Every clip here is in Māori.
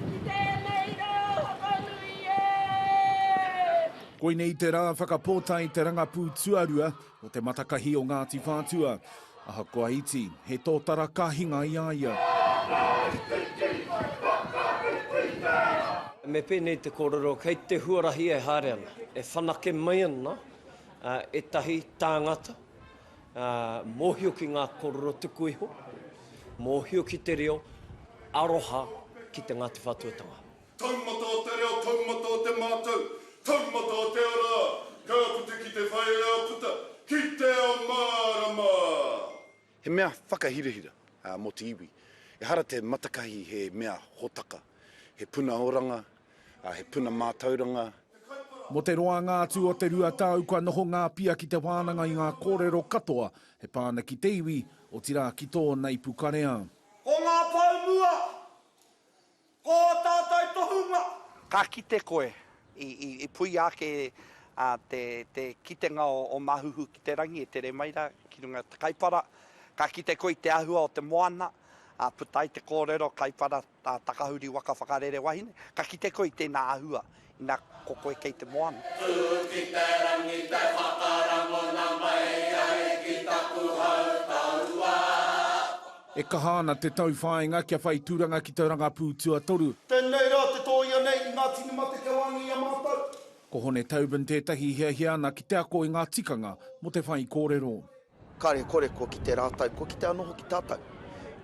Ki tēnei rā whakanui e! Koinei te rā whakapōtae te rangapū tuarua o Te Matakahi o Ngāti Whātua. Ahakoa iti, he tōtara ka hinga i a ia. Whakaritiki! Whakaritiki! Me pēnei te kōrero, kei te huarahi e haere ana, e whanake mai ana ētahi tāngata Mōhio ki ngā kōrero tuku iho, mōhio ki te reo, aroha ki te Ngāti Whātuatanga. Taumata o te reo, taumata o te mātau, taumata o te ara, ka puta ki te whai ao puta, ki te ao mārama. He mea whakahirahira mō te iwi. Ehara te matakahi he mea hōtaka, he puna oranga, He puna mātauranga. Mō te roanga atu o te rua tau kua noho ngā pia ki te wānanga i ngā kōrero katoa e pā ana ki te iwi, otirā ki tō Naipukarea. Ko ngā pou mua, ko ō tātou tohunga. Ka kite koe, i puia ake te kitenga o Mahuhu ki te rangi e tere mai rā ki runga i te kaipara. Ka kite koe i te āhua o te moana, puta ai te kōrero kaipara. Ka takahuri waka whakarere wahine, ka kite koe i tēnā ahua ina ko koe kei te moana. Tū ki te rangi te whakarangona mai ai ki taku hau taua. E kaha ana te tauwhāinga kia whai tūranga ki te rangapū tuatoru. Tēnei rā te tōia nei i Ngāti Numate kia wāngi i a mātou. Ko Hone Tobin tētahi i hiahia ana ki te ako i ngā tikanga mō te whaikōrero. Kāre kore kua kite rātou, kua kite anō hoki tātou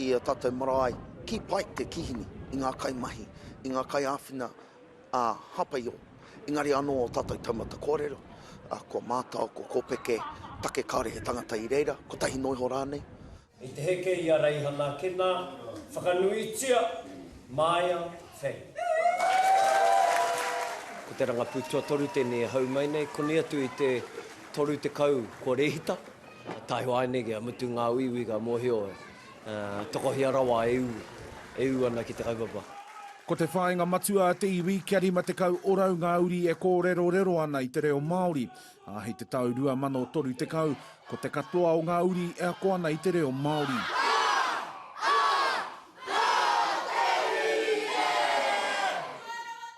i ō tātou marae. Kī pai te kīhini i ngā kaimahi, i ngā kaiāwhina ā Hāpaio, engari anō ō tātou taumata kōrero, ko Mātao, ko Kōpeke, take kāore he tangata i reira, kotahi noa iho rānei. I te heke i a Reihana Kena, whakanuitia, Maia, Whei. Ko te rangapū tuatoru tēnei e hau mai nei, konei atu i te 30 kua rēhita, taihoa ai nei kia mutu ngā uiui ka mōhio e tokohia rawa e ū, e ū ana ki te kaupapa. Ko te whāinga matua a te iwi kia 50 orau ngā uri e kōrerorero ana i te reo Māori. Ā, hei te tau 2030, ko te katoa o ngā uri e ako ana i te reo Māori.